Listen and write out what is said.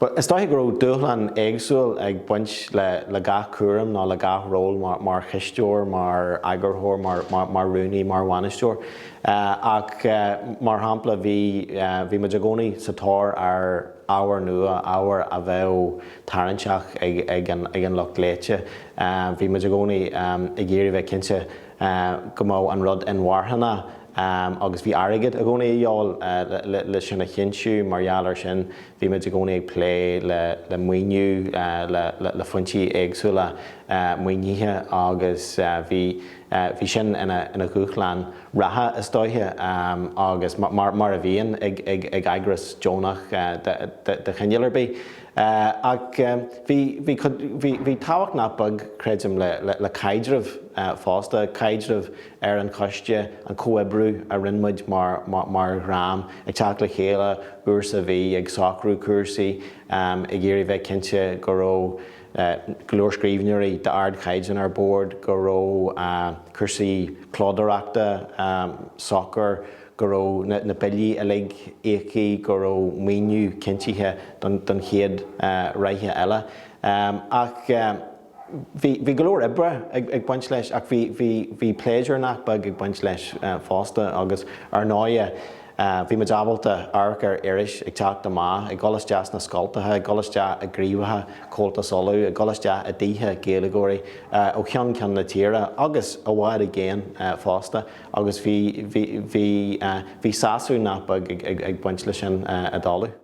Bhuel, is dóiche go raibh dúshlán éagsúil ag baint le gach cúram nó le gach ról mar chisteoir, mar eagarthóir, mar rúnaí, mar bhainisteoir ach mar shampla bhí muid i gcónaí sa tóir ar ábhar nua, ábhar a bheadh tarraingteach ag an lucht léite. Bhí muid i gcónaí ag iarraidh bheith cinnte go mbeadh an rud inmharthana. agus bhí airgead i gcónaí de dhíobháil le sin a chinntiú. Mar gheall air sin, bhí muid i gcónaí ag plé le maoiniú le foinsí éagsúla maoinithe agus bhí sin ina dhúshlán reatha, is dóiche, agus mar a bhíonn ag eagras deonach de chineál ar bith. Ach bhí tábhacht nach beag, creidim, le caidreamh fosta, caidreamh ar an choiste, an comhoibriú a rinne muid mar dhream, ag teacht le chéile uair sa mhí, ag socrú cúrsaí, ag iarraidh bheith cinnte go raibh go leor scríbhneoirí d'ardchaighdeán ar bord, go raibh cúrsaí clódóireachta socair, go raibh na billí uilig íoctha, go raibh maoiniú cinntithe don chéad ráithe eile. Ach. Bhí go leor oibre ag baint leis ach bhí pléisiúr nach beag ag baint leis fosta agus ar ndóighe bhí muid ábalta amharc ar iris ag teacht amach, ag dul isteach sna scoltacha, ag dul isteach i gcraobhacha Chomhaltas Uladh, ag dul isteach i dtithe Gaeilgeoirí ó cheann ceann na tíre agus i bhfad i gcéin fosta agus bhí sásamh nach beag ag baint leis sin ar ndóighe.